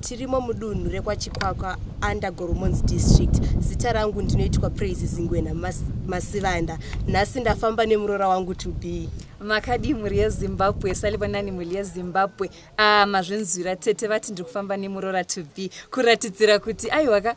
tirimo mudunhu rekwachikwakwa under goromons district zita rangu ndinoitwa praise zingwena mas, masivanda nhasi ndafamba nemurora wangu to be makadii mhuri yezimbabwe salibonani mhuri yezimbabwe ah, mazvinzwira tete vati ndiri kufamba nemurora to be kuratidzira kuti aiwaka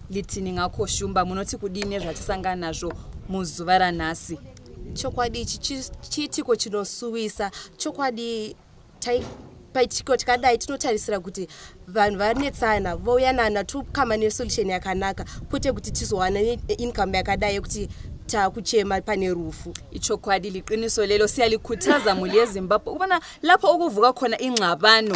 Litininga ko Shumba munoti kudii nezvatisangana nazvo muzuva ranhasi? Chokwadi ichi chiitiko chinosuwisa, chokwadi paitiko tikadai tinotarisira kuti vanhu vanetsana vouyanana tokama nesolution yakanaka kwete kuti tizowana income yakadai yekuti takuchema pane rufu ichokwadi liqiniso lelo siyalikhuthaza muli yezimbabwe ubona lapho okuvuka khona ingxabano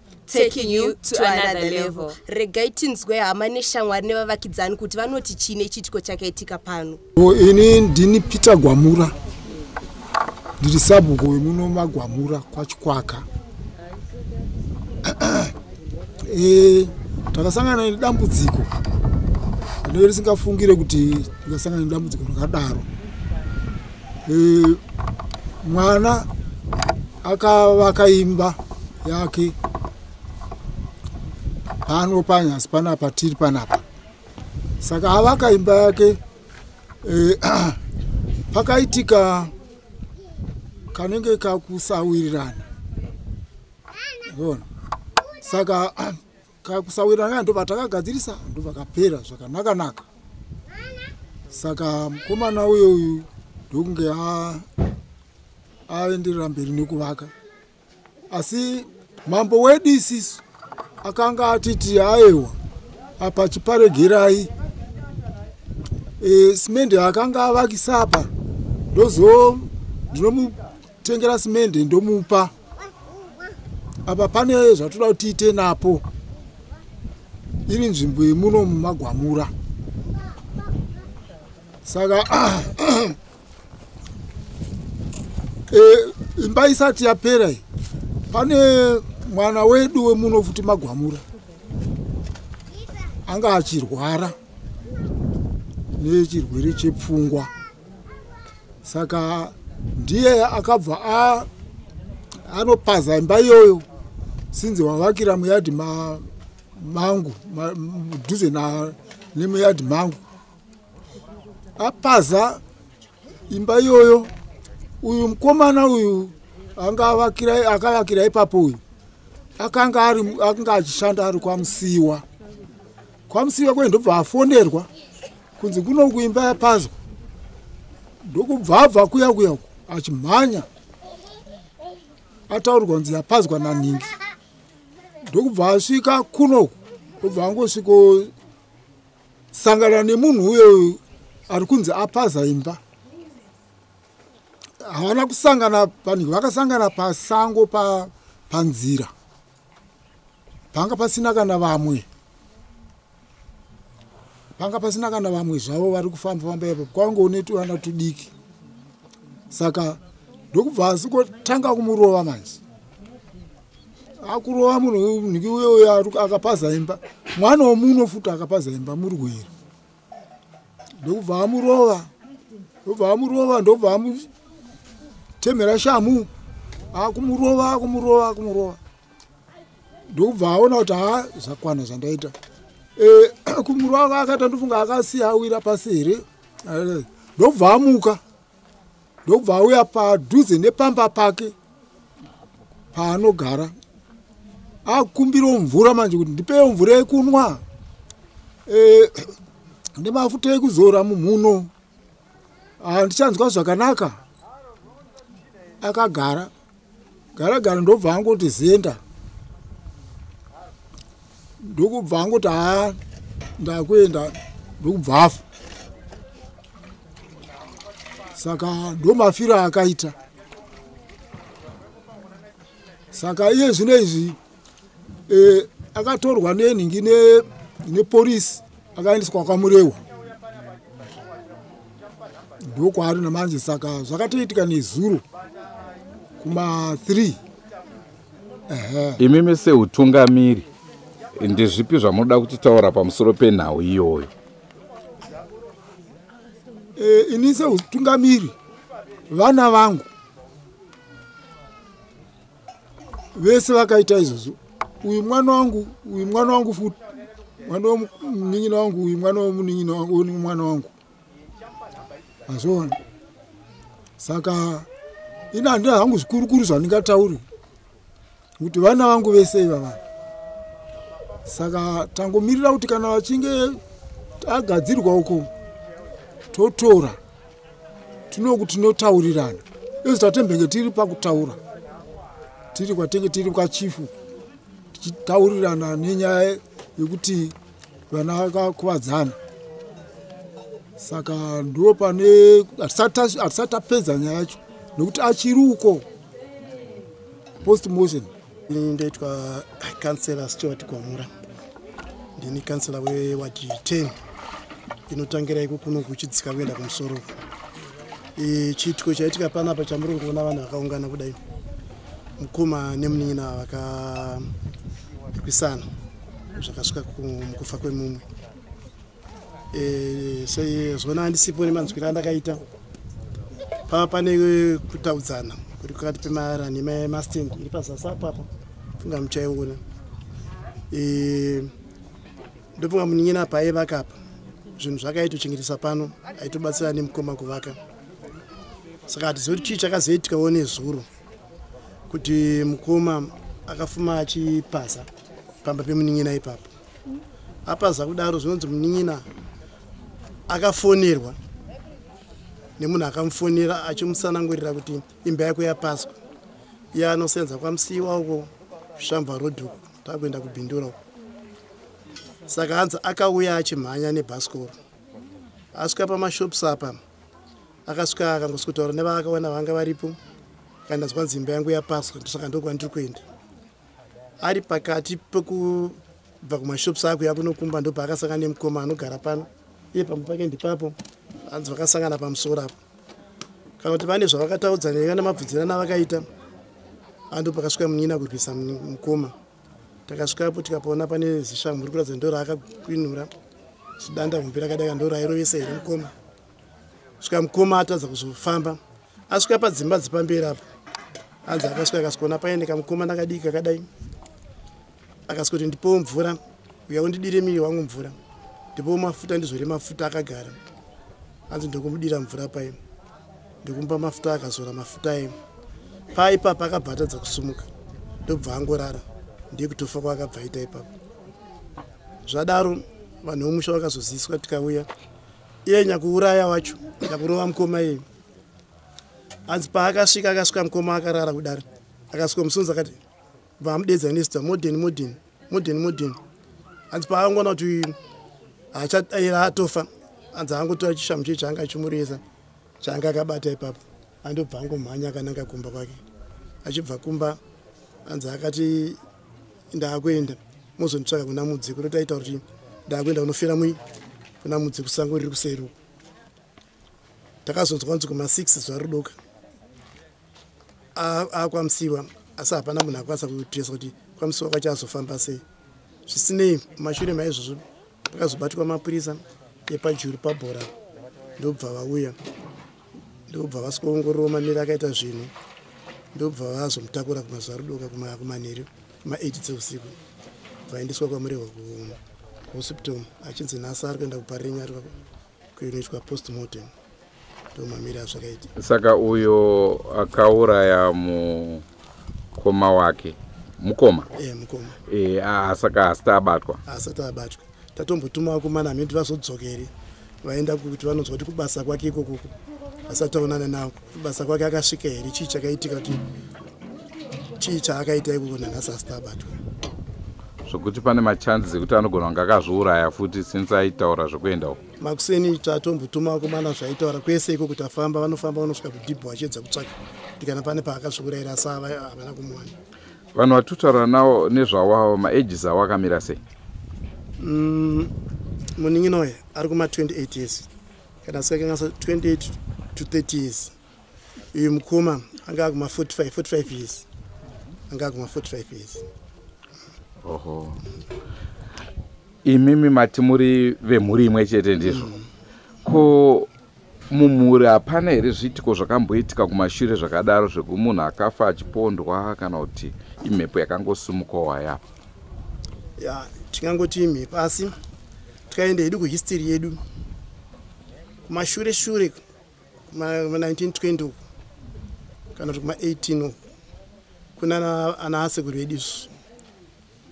taking you to another level regai tinzwe hama neshamwari nevavakidzani kuti vanoti chii nechiitiko chakaitika pano ini ndini peter gwamura ndiri sabhuku wemuno magwamura kwachikwaka e, takasangana nedambudziko rinenge risingafungire kuti tikasangana nedambudziko rakadaro e, mwana akavaka imba yake pano panyasi panapa tiri panapa saka avaka imba yake e, pakaitika kanenge kakusawirirana ona saka kusawirana kaya ndovatakagadzirisa ndovakapera zvakanaka naka saka mukomana uyo uyu ndokunge aenderera mberi nekuvaka asi mambo wedu isisu akanga atiti aewa apa chiparegerai e, simende akanga avakisa apa ndozo ndinomutengera simende ndomupa apa pane zvatoda kuti tiite napo iri nzvimbo yemuno mumagwamura saka eh, imba isati yapera iyi pane mwana wedu wemuno futi magwamura anga achirwara nechirwere chepfungwa saka ndiye akabva a anopaza imba iyoyo sinzi wavakira muyadhi ma, mangu mudhuze ma, nemuyadhi mangu apaza imba iyoyo uyu mukomana uyu anga avakira akavakira ipapo uyu akanga ari akanga achishanda ari kwamusiwa kwamusiwa kwendobva afonerwa kunzi kuno kuimba yapazwa ndokubvabva kuya kuya uku achimhanya ataurirwa kunzi yapazwa nanhingi ndokubva asvika kunoku obva angosvikosangana nemunhu uyo ari kunzi apaza imba havana kusangana panhingi vakasangana pasango panzira pa panga pasina kana vamwe panga pasina kana vamwe zvavo vari kufamba famba ipo kwange une tuvana tudiki saka ndokubva asi kotanga kumurova manje akurova munhu niki uye uyo akapaza imba mwana womuno futi akapaza imba muri kuhera ndokubva amurova ndobva amurova ndobva amutemhera shamu akumurova akumurova akumurova ndokubva aona kuti haa zvakwana zvandaita eh, kumurova akaita ndofunga akasiya awira pasi here ndobva amuka ndokubva auya padhuze nepamba pake paanogara akumbirawo mvura manje kuti ndipewo mvura yekunwa e, nemafuta ekuzora mumhuno handichanzwa zvakanaka akagara gara gara ndobva angoti zenda ndokubva angoti haa ndakuenda ndokubva afa saka ndomafiro akaita saka iye zvino izvi e, akatorwa nenhingi nepolisi ne akaendeswa kwamurewa ndokwaari namanje saka zvakatoitika nezuro kuma 3 imimi seutungamiri ndezvipi zvamunoda kutitaura pamusoro penhau iyoyo e, ini seutungamiri vana vangu vese vakaita izvozvo uyu mwana wangu uyu mwana wangu futi mwana wemunin'ina wangu uyu mwana wemunin'ina wangu uyu mwana wangu azviona saka ini handina hangu zvikurukuru zvandingatauri kuti vana vangu vese ivava saka tangomirira kuti kana vachinge tagadzirwa uko totora tinoku tinotaurirana isu tatembenge tiri pakutaura tiri kwatenge tiri kwachifu tichitaurirana nenyaya yekuti vana vakakuvadzana saka ndo pane hatisati tapedza nyaya yacho nokuti achiri uko post motion Ini ndoitwa kansela Stewart Gwamura. Ndini kansela wewadi 10 inotangira iko kuno kuchidzika kuenda kumusoro uko. E, chiitiko chaitika panapa chamuri kuona vanhu vakaungana kudai mukoma nemunin'ina vakakwisana zvakasvika mukufa kwemumwe Eh, sezvona handisipo nemanzwiro andakaita pava pane kutaudzana kuri pakati pemara nemamastand iri pazasi apo apo funga muchaiona eh, ndofunga munin'ina apa aivaka apa zvinhu zvakaitochengetesa pano aitobatsira nemukoma kuvaka saka hatizivi kuti chii chakazoitikawo nezuro kuti mukoma akafuma achipasa pamba pemunin'ina ipapo apaza kudaro zvinonzi munin'ina akafonerwa nemunhu akamufonera achimusanangurira kuti imba yako yapaswa iye anosenza kwamusiiwa uko zvishambwa rodhuku takuenda kubindura uko saka hanzi akauya achimhanya nebhasikoro asvika pamashops apa akasvika akangosi kutaura nevavakawana vanga varipo kana zvanzi imba yangu yapaswa ndosaka ndokwandiri kuenda ari pakati pekubva kumashops ako yakunokumba ndo paakasangana nemukoma anogara pano iye pamwe pake ndipapo hanzi vakasangana pamusoro apo kana kuti vane zvavakataudzaneka nemabvudzirana avakaita ando pakasvika munyina kurwisa mukoma takasvikapo tikapaona pane zishamhu ri kuratidza ndo raakakwinura zidanda hombe rakadaka ndo rairovesa here mukoma svika mukoma atadza kuzofamba asvika padzimba dzepamberi apo hanzi akasvika akasikuona paine kamukoma ndakadii kakadai akasvika kuti ndipowo mvura uya undidire miri wangu mvura ndipowo mafuta ndizvore mafuta akagara hanzi ndokumudira mvura paye ndikumupa mafuta akazora mafuta aye paa ipapo akabva atadza kusumuka ndokubva angorara ndiye kutofa kwaakabva aita ipapo zvadaro vanhu vomusha vakazoziswa tikauya iye nyakuuraya wacho nyakurova mukoma iye hanzi paakasvika akasvika mukoma akarara kudari akasvika musonzi akati vamudedza nesta modern modern modern modern hanzi paakangona kuti atofa hanzi angotora chishamu chii chaanga achimuresa chaanga akabata ipapo andobva angomhanya akananga kumba kwake achibva kumba hanzi akati ndakuenda mozonditsvaka kuna mudzi kuno taita kuti ndakuenda kunofira mui kuna mudzi kusango riri kuseri uko takazonzwa kunzi kuma six zuva ridoka akwamsiwa asi hapana munhu akwanisa kutiresa kuti kwamsiwa kwacho azofamba sei zvisinei mashure maizvozvo pakazobatwa mapurisa epajuru pabhora ndobva vauya ndokubva vasikaongororo maneri akaita zvinhu ndokubva vazomutakura kumazuva rudoka kumanheru kuma 8 dzeusiku vaendeswa kwamurehwa kuhospital achinzi nhasi ari kuenda kuparinya ari kuinoitwa post mortem ndomamiri azvakaita saka uyo akauraya mu mukoma wake mukoma e, mukoma e, asaka asati abatwa asati abatwa tatombotuma vakomana hameno kuti vazodzokere vaenda kuti vanonzwa kuti kubasa kwake ikokoko asati aonana navo kubasa kwake akasvika here chii chakaitika kuti chii chaakaita ikoko nanhasi asati abatwa zvokuti pane machances ekuti anogona kunge akazviuraya futi since aitaura zvekuenda uko makuseni tatombotuma vakomana zvaitaura kwese iko kuti afamba vanofamba vanosvika kudhibho vachiedza kutsvaka kuti kana pane paakasvikureira sa havana kumuwana vanhu vatotaura nawo nezvawawo maages awo akamira sei mm, munin'ina uye ari kuma 28 years kana sikakangasa 28 to 30 years uyu mukoma anga akuma 45 45 years anga akuma 45 years oho imimi mati muri vemhuri imwe chete ndizvo mm. ko mumhuri hapana here zviitiko zvakamboitika kumashure zvakadaro zvekumunhu akafa achipondwa kana kuti imhepo yakangosimukawo hayapa ya tingangoti imhepo asi tikaenda hedu kuhistory yedu kumashure shure kuma 1920 uku kana kuti kuma 18 uku kuna ana asekuru vedu isu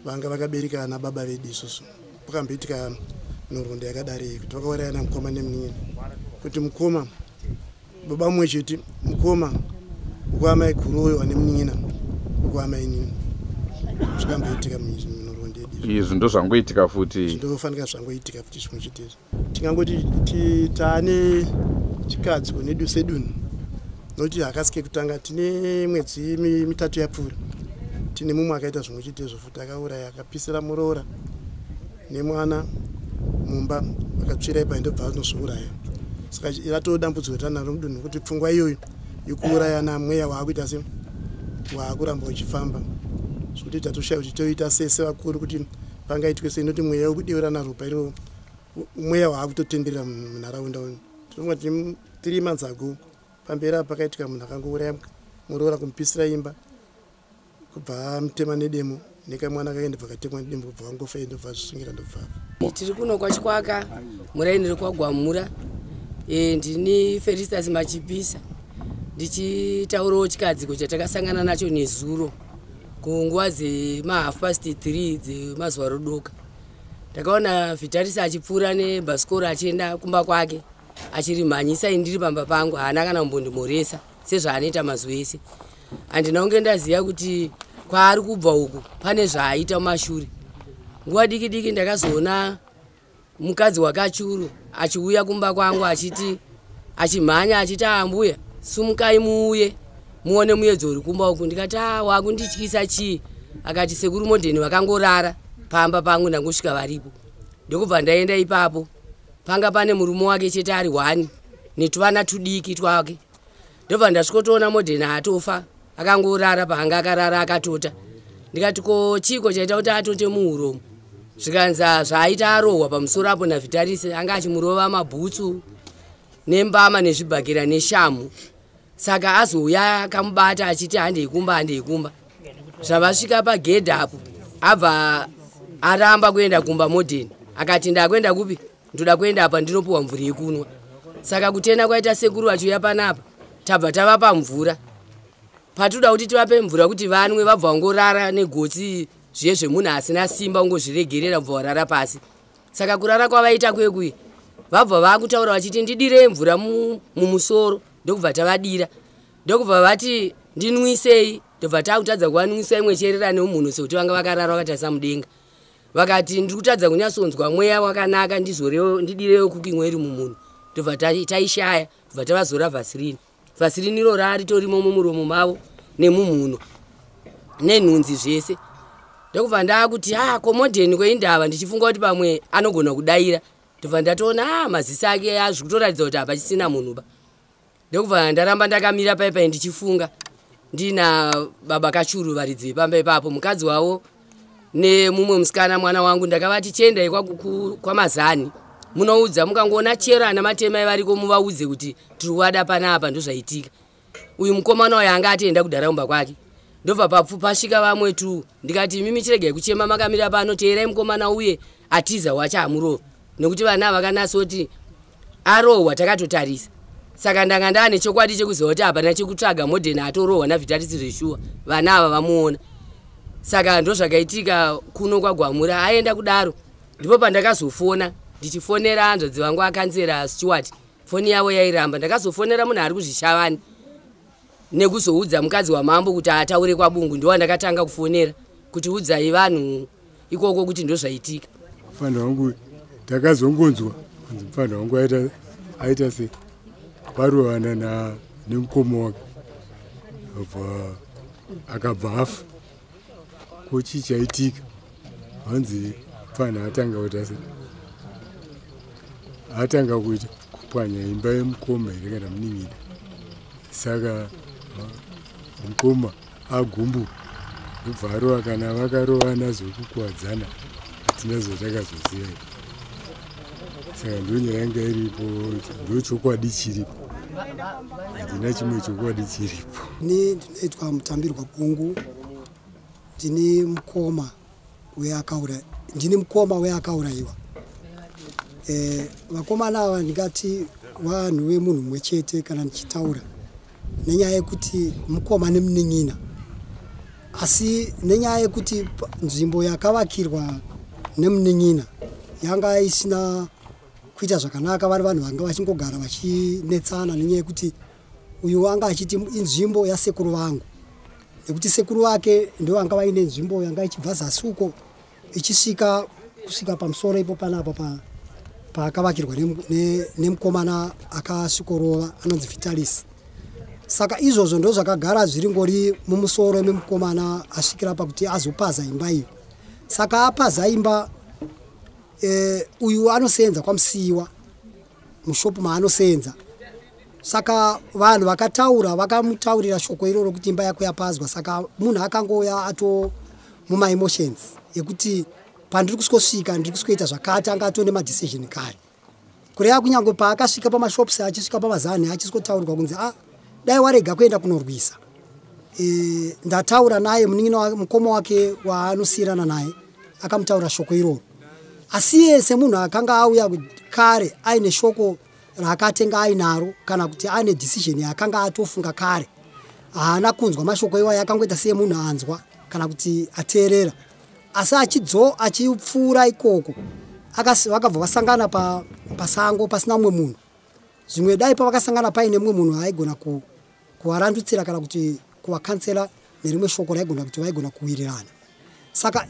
vanga vakabereka ana baba vedu isusu pakamboitika nhoroondo yakadari kuti vakauraya na mukoma nemunin'ina kuti mukoma baba mumwe chete mukoma ukuamai kuroyo ane munin'ina ukuamai nini zvikamboitika munhoroondo yedu izvi ndozvangoitika futi ndofanika zvangoitika futi zvimwe chete izvi tingangoti taane chikadzi kunedu sedunhu nokuti hakasi kekutanga tine mwedzi mitatu yapfuura tine mumwe akaita zvimwe chete izvo futi akauraya akapisira muroora nemwana mumba akatsvira ipai ndobva anozviuraya saka ratoo dambudziko ratanaro mudunhu kuti pfungwa iyoyo yekuurayana mweya waakuita se waakuramba uchifamba zvekuti tatoshaya kuti toita sese vakuru kuti pangaitwe sei noti mweya wekudeurana ropa iroo mweya waakutotenderera munharaunda uno tinonga tine three months ago pamberi apa pakaitika munhu akangouraya muroora kumupisira imba kubva amutema nedemo nekamwana kake ndobva katemwa nedemo kubva kangofa ye ndobva zvisungira ndobvava tiri kuno kwachikwaka muraini rekwagwamura e, ndini feristas machipisa ndichitaurawo chikadziko chatakasangana nacho nezuro kunguva dzemahalf past three dzemazuva rodoka ndakaona vitaris achipfuura nebhasikoro achienda kumba kwake achirimhanyisa ini ndiri pamba pangu haana kana kumbondimhoresa sezvaanoita mazuva ese handina kunge ndaziva kuti kwaari kubva uku pane zvaaita mumashure nguva diki diki ndakazoona mukadzi wakachuru achiuya kumba kwangu achiti achimhanya achiti ambuya sumukai muuye muone muyedzo uri kumba uku ndikati a wakundityisa chii akati sekuru modheni vakangorara pamba pangu ndangosvika varipo ndokubva ndaenda ipapo panga pane murume wake chete ari one netuvana tudiki twake ndobva ndasvikotoona modern atofa akangorara paanga akarara akatota ndikati ko chiiko chaita kuti atote muuromo zvikanza zvaaita arohwa pamusoro apo navhitarise anga achimurova mabhutsu nembama nezvibhakira neshamu saka azouya akamubata achiti handei kumba handei kumba zvavasvika pagedhi apo abva aramba kuenda kumba modheni akati ndakuenda kupi ndoda kuenda apa ndinopiwa mvura yekunwa saka kutenda kwaita sekuru vachiuya panapa tabva tavapa mvura patinoda kuti tivape mvura kuti vanwe vabva vangorara negotsi zviye zvemunhu asina simba ungozviregerera bva varara pasi saka kurara kwavaita kwekuye vabva vakutaura vachiti ndidire mvura mumusoro ndokubva tavadira ndokubva vati ndinwisei ndobva takutadza kuvanwisa imwe cherera neumhunu sekuti vanga vakarara vakatarisa mudenga vakati ndiri kutadza kunyatsonzwa mweya wakanaka ndizorewo ndidirewo cooking oil mumunhu ndobva taishaya bva tavazora vasirini vasirini iro raaritorimo mumuromo mavo nemumhuno nenhunzi zvese ndokubva ndaakuti a ah, komodheni kweindava ndichifunga kuti pamwe anogona kudaira ndobva ndatoona a ah, maziso ake azvikutoratidza kuti hapachisina munhu ba ndokubva ndaramba ndakamira paipai ndichifunga ndina baba kachuru varidzi vepamba ipapo mukadzi wavo nemumwe musikana mwana wangu ndakavati chiendai kwamazani munoudza mukangoona chero ana matemai variko muvaudze kuti tiri kuwada panapa ndozvaitika uyu mukomana wayo anga atienda kudharaumba kwake ndobva papfu pasvika vamwe tu ndikati imimi chiregai kuchema makamira pano teerai mukomana uye atiza wacho hamurova nekuti vana vakanasoti arohwa takatotarisa saka ndanga ndaane chokwadi chekuziva kuti hapana chekutsvaga modern atorohwa navhitarisi zveshuwa vana ava vamuona saka ndozvakaitika kuno kwagwamura aenda kudaro ndipo pandakazofona ndichifonera hanzvadzi vangu akanzera stewart foni yavo yairamba ndakazofonera munhu ari kuzvishavani nekuzoudza mukadzi wamambo kuti ataure kwabungu ndowandakatanga kufonera kuti udzai vanhu ikoko kuti ndozvaitika mfana wangu takazongonzwa anzi mfana wangu aita aita se varovana na nemukoma wake akabva afa ko chii chaitika hanzi pfanha atanga kuita se atanga kuita kupwanya imba yemukoma here kana munin'ina saka mukoma agumbu kubvarova kana vakarovana zvokukuwadzana hatina zvatakazoziva saka ndonyaya yanga iripo ndochokwadi chiripo handina chimwe chokwadi chiripo ni ndinoitwa mutambirwa kungu ndini mukoma weakaura ndini mukoma weakaurayiwa e, vakomana ava ndingati vanhu vemunhu mumwe chete kana ndichitaura nenyaya yekuti mukoma nemunin'ina asi nenyaya yekuti nzvimbo yakavakirwa nemunin'ina yanga isina kuita zvakanaka vari vanhu vanga vachingogara vachinetsana nenyaya yekuti uyu anga achiti inzvimbo yasekuru vangu nekuti sekuru vake ndovanga vaine nzvimbo yanga ichibva zasi uko ichisvika kusvika pamusoro ipo panapa pa paakavakirwa nemukomana akasvikorova anonzi vitalis saka izvozvo ndo zvakagara zviri ngori mumusoro memukomana asvikira pakuti azopaza imba iyo saka apaza imba e, uyu anoseenza kwamusiyiwa mushopu maanoseenza saka vanhu vakataura vakamutaurira shoko iroro kuti imba yako yapazwa saka munhu akangouya ato mumaemotions yekuti pandiri kusvika ndiri kusvika zvakati anga atone madecision kare kureva kunyange paakasvika pamashops achisvika pamazanhi achisvikotaurwa kunzi a ah, dai warega kuenda kunorwisa e, ndataura naye munin'ina wake mukoma wake waanosiyirana naye akamutaura shoko iroro asi iye semunhu akanga auya kare aine shoko raakatenga ainaro kana kuti aine decision yaakanga atofunga kare haana kunzwa mashoko iwayo akangoita siye munhu anzwa kana kuti ateerera asi achidzo achipfuura ikoko vakabva vasangana pasango pasina umwe munhu zvimwe dai pavakasangana paine mumwe munhu aigona kuvarandutsira kana kuti kuvakansela nerimwe shoko raigona kuti vaigona kuwirirana saka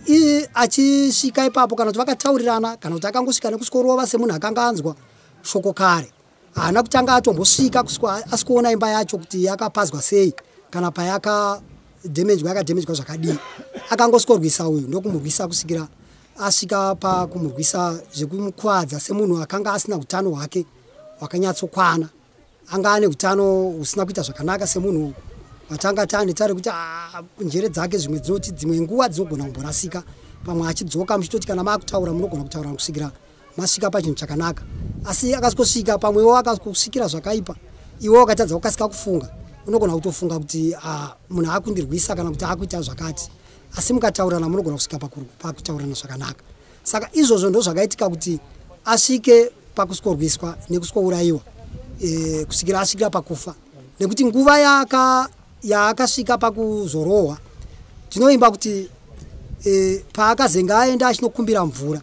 achisvika ipapo kana kuti vakataurirana kana kuti akangosvika nekusvikorova semunhu akanga anzwa shoko kare haana kutanga atombosvika asi kuona imba yacho kuti yakapazwa sei kana payakademejwa yakademejwa zvakadii akangosvikorwisa uyu ndokumurwisa kusvikira asvika pakumurwisa zvekumukwadza semunhu akanga asina utano hwake hwakanyatsokwana anga ane utano husina kuita zvakanaka semunhu watanga tane tare kuti ah, njere dzake zvimwe dzinoti dzimwe nguva dzinogona kumborasika pamwe achidzoka muchitoti kana maakutaura munogona kutaura kusvikira masvika pachinhu chakanaka asi akasvika pamwewo akasvikira zvakaipa iwe wakatadza kukasika kufunga unogona kutofunga kuti ah, munhu akundirwisa kana kuti akuita zvakati asi mukataurirana munogona kusvika pakutaurirana zvakanaka saka izvozvo ndo zvakaitika kuti asvike pakusworwiswa nekuswourayiwa e, eh, kusvikira asvikira pakufa nekuti nguva yaka yaakasvika pakuzorohwa tinoimba kuti e, paakazenge aenda achinokumbira mvura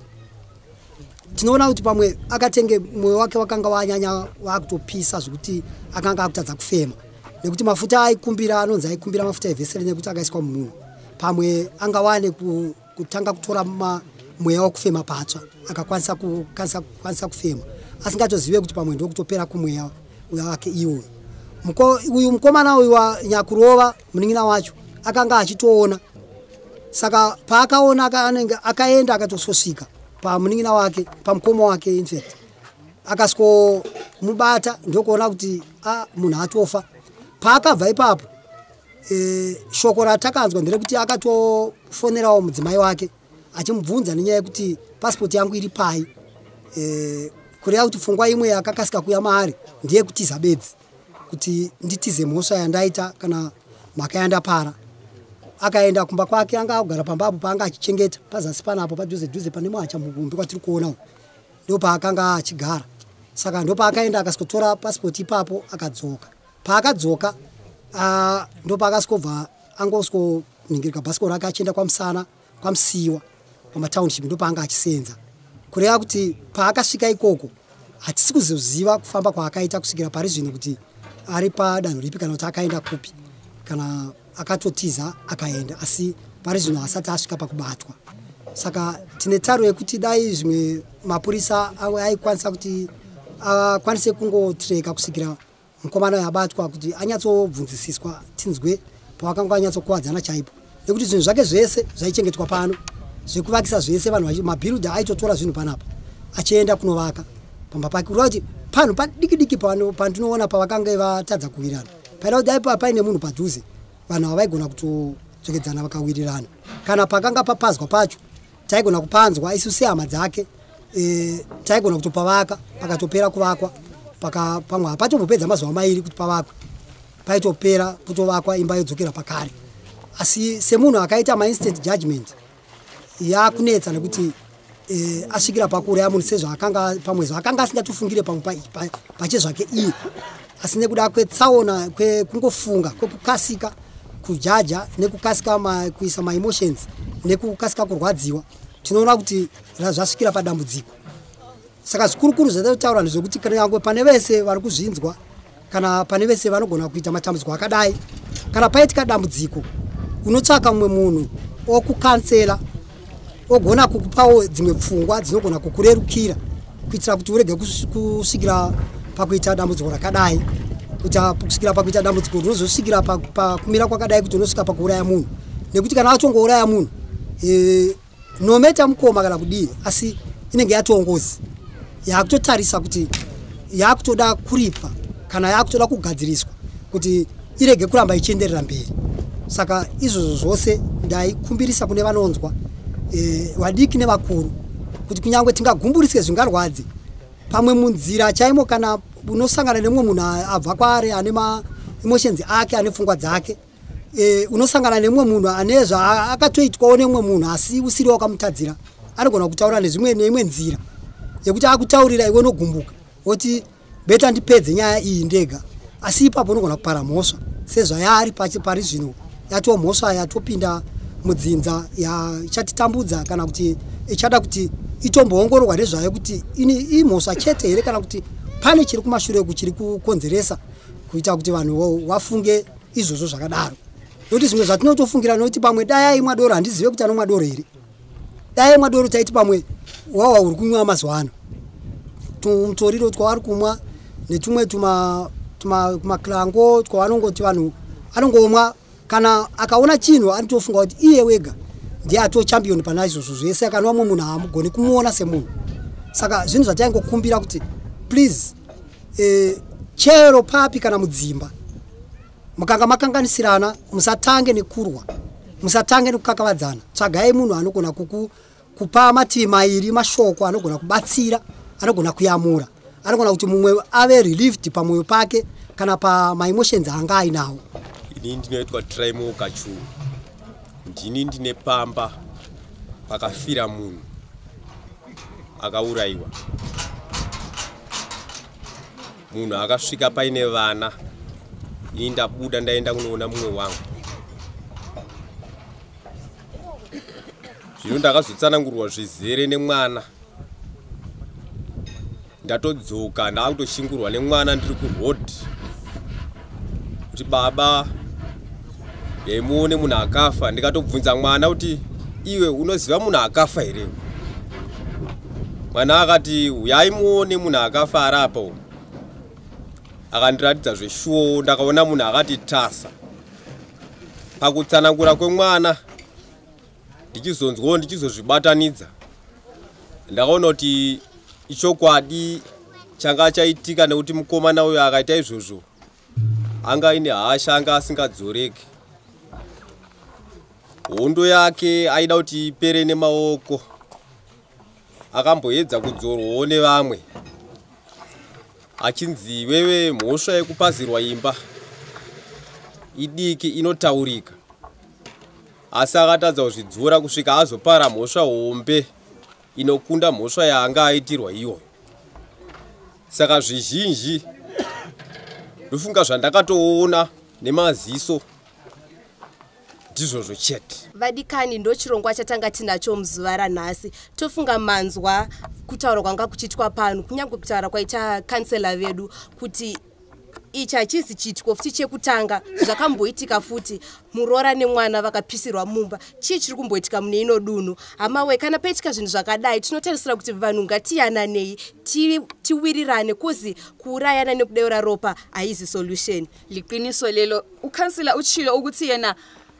tinoona kuti pamwe akatenge mwoyo wake wakanga wanyanya wakutopisa zvekuti akanga akutadza kufema nekuti mafuta aikumbira anonzi aikumbira mafuta evhesere nekuti akaiswa mumunhu pamwe anga wane ku kutanga kutora mweya wekufema patsva akakwanisa kukwanisa kufema asingatozive kuti pamwe ndokutopera kumweya wake iwoyo uyu mukomana uyu wanyakurova munin'ina wacho akanga achitoona saka paakaona anenge akaenda akatosvosvika pamunin'ina wake pamukoma wake infact akasvomubata ndokuona kuti a ah, munhu atofa paakabva ipapo e, shoko ratakanzwa nderekuti akatofonerawo mudzimai wake achimubvunza nenyaya yekuti pasipoti yangu iri pai e, kureva kuti pfungwa imwe yakakasika kuya maari ndiye kutiza bedzi kuti nditize mhosva yandaita kana mhaka yandapara akaenda kumba kwake anga agara pamba apo paanga achichengeta pazasi panapo padhuze dhuze pane mwacha mugumbi kwatiri kuonawo ndopaakanga achigara saka ndopaakaenda akasikotora pasipoti ipapo akadzoka paakadzoka ah, ndopaakasikobva angosikoningirika bhasiko rake achienda kwamusana kwamusiiwa kwamatownship ndopaanga achiseenza kureva kuti paakasvika ikoko hatisi kuzoziva kufamba kwaakaita kusvikira pari zvino kuti ari padanho ripi kana kuti akaenda kupi kana akatotiza akaenda asi pari zvino hasati asvika pakubatwa saka tine taro yekuti dai zvimwe mapurisa aikwanisa kuti akwanise kungotreka kusvikira mukomana uyo abatwa kuti anyatsobvunzisiswa tinzwe pawakanga wanyatsokuwadzana chaipo nekuti zvinhu zvake zvese zvaichengetwa pano zvekuvakisa zvese vanhu mabhirudhi aitotora zvinhu panapa achienda kunovaka pamba pake kureva kuti panhu padiki diki pandinoona pavakanga vatadza kuwirana paida kuti dai paine munhu padhuze vanhu ava vaigona kutodzokedzana vakawirirana kana pakanga papazwa pacho taigona kupanzwa isu sehama dzake e, taigona kutopavaka pakatopera kuvakwa paka pamwe hapatombopedza mazuva mairi kuti pavakwe paitopera kutovakwa imba yodzokera pakare asi semunhu akaita mainstant judgment yakunetsa nekuti e, asvikira pakuuraya munhu sezvaakanga pamwe zvaakanga asingatofungire pamwe pache zvake iye asi nekuda kwetsaona kwekungofunga kwekukasika kujaja nekukasika ma, kuisa maemotions nekukasika kurwadziwa tinoona kuti zvasvikira padambudziko saka zvikurukuru zvataura ndezvekuti kanyange pane vese vari kuzvinzwa kana pane vese vanogona kuita matambudziko akadai kana paitika dambudziko unotsvaka mumwe munhu okukansela ogona kukupawo dzimwe pfungwa dzinogona kukurerukira kuitira kuti urege kusvikira pakuita dambudziko rakadai kuti kusvikira pakuita dambudziko rinozosvikira pakumira kwakadai kuti unosvika pakuuraya munhu nekuti kana atongouraya munhu e, nometa mukoma kana kudii asi inenge yatongozi yakutotarisa kuti yakutoda kuripa kana yakutoda kugadziriswa kuti irege kuramba ichienderera mberi saka izvozvo zvose ndaikumbirisa kune vanonzwa e, vadiki nevakuru kuti kunyange tingagumburiswe zvingarwadzi pamwe munzira chaimo kana unosangana nemumwe munhu abva kwaari ane maemotions ake ane pfungwa dzake e, unosangana nemumwe munhu ane zvaakatoitwawo nemumwe munhu asi usiri wakamutadzira anogona kutaura nezvimwe neimwe nzira yekuti akutaurira iwe unogumbuka woti beta ndipedze nyaya iyi ndega asi ipapo unogona kupara mhosva sezvayaari pari zvino yatoo mhosva yatopinda mudzinza yachatitambudza kana kuti ichada kuti itomboongororwa nezvayo kuti ini imhosva chete here kana kuti pane chiri kumashure kuchiri kukonzeresa kuita kuti vanhu vafunge izvozvo zvakadaro nokuti zvimwe zvatinotofungira nokuti pamwe dai aimwa doro handizive kuti anomwa doro here dai aimwa doro taiti pamwe wawa uri kunwiwa mazuva ano tumutoriro twavari kumwa netumwe tumaklango twavanongoti vanhu anongomwa kana akaona chinhu anotofunga kuti iye wega ndiye atoo champion pana izvozvo zvese akanwa mwe munhu haamugoni kumuona semunhu saka zvinhu zvataingokumbira kuti please e, chero papi kana mudzimba mukanga makanganisirana musatange nekurwa musatange nekukakavadzana tsvagai munhu anogona kuku kupa mativi mairi mashoko anogona kubatsira anogona kuyamura anogona kuti mumwe ave relieved pamwoyo pake kana pamaemotions anga ainawo ini ndinoitwa trimo kachu ndini ndine pamba pakafira munhu akaurayiwa munhu akasvika paine vana ini ndabuda ndaenda kunoona mumwe wangu zvino ndakazotsanangurwa zvizere nemwana ndatodzoka ndaakutoshingurwa nemwana ndiri kuroad kuti baba yai muone munhu akafa ndikatobvunza mwana kuti iwe unoziva munhu akafa here mwana akati uyai muone munhu akafa arapa u akandiratidza zveshuwo ndakaona munhu akati tasa pakutsanangura kwemwana ndichizonzwawo ndichizozvibatanidza ndakaona kuti ichokwadi changa chaitika nekuti mukomana uyo akaita izvozvo anga ine hasha anga asingadzoreki hondo yake aida kuti ipere nemaoko akamboedza kudzorwawo nevamwe achinzi iwewe mhosva yekupazirwa imba idiki inotaurika asi akatadza kuzvidzora kusvika azopara mhosva hombe inokunda mhosva yaanga aitirwa iyoyo saka zvizhinji ndofunga zvandakatoona nemaziso ndizvozvo chete vadikani ndochirongwa chatanga tinacho muzuva ranhasi tofunga manzwa kutaura kwanga kuchiitwa pano kunyange kutaura kwaita kansela vedu kuti ichi hachisi chiitiko futi chekutanga zvakamboitika futi muroora nemwana vakapisirwa mumba chii chiri kumboitika mune ino dunhu hamawe kana paitika zvinhu zvakadai tinotarisira kuti vanhu ngatiyananei tiwirirane kuzi kuurayana nekudeura ropa haizi solution liqiniso lelo ukansila uchilo ukuthi yena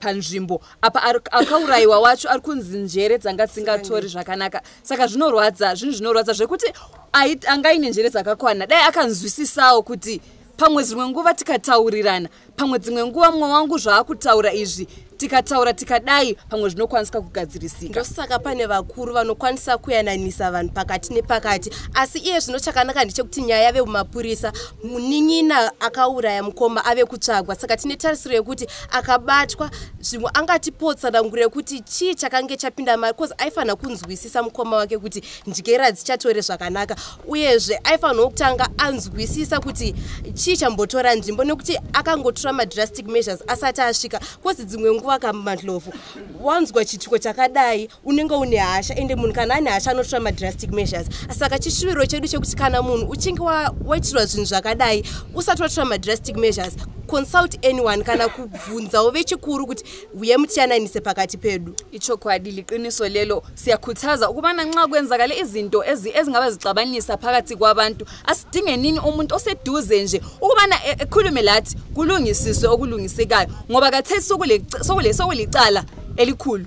panzvimbo apa akaurayiwa wacho ari kunzi njere dzanga dzisingatori zvakanaka saka zvinorwadza zvinhu zvinorwadza zvekuti anga aine njere dzakakwana dai akanzwisisawo kuti pamwe dzimwe nguva tikataurirana pamwe dzimwe nguva mumwe wangu zvaakutaura izvi tikataura tikadai pamwe zvinokwanisika kugadzirisika ndosaka pane vakuru vanokwanisa kuyananisa vanhu pakati nepakati asi iye zvino chakanaka ndechekuti nyaya yave kumapurisa munin'ina akauraya mukoma ave kutsvagwa saka tine tarisiro yekuti akabatwa zvimwe angatipotsa danguro yekuti chii chakange chapinda mari bcause aifanira kunzwisisa mukoma wake kuti ndyera dzichatore zvakanaka uyezve aifanirawo kutanga anzwisisa kuti chii chambotora nzvimbo nekuti akangotora madrastic measures asati asvika bcause dzimwe nguva kamadlovu wanzwa chituko chakadai unenge une hasha ende munhu kana ane hasha anotora madrastic measures saka chishuviro chedu chekuti kana munhu uchinge waitirwa zvinhu zvakadai usati watora madrastic measures consult anyone kana kubvunzawo vechikuru kuti uye mutiyananise pakati pedu ichokwadi liqiniso lelo siyakhuthaza ukubana nxa kwenzakale izinto ezingaba zixabanisa phakathi kwabantu asidinge nini umuntu oseduze nje ukubana e, ekhulume lathi kulungisiswe okulungisekayo ngoba kathesi sokulicala elikhulu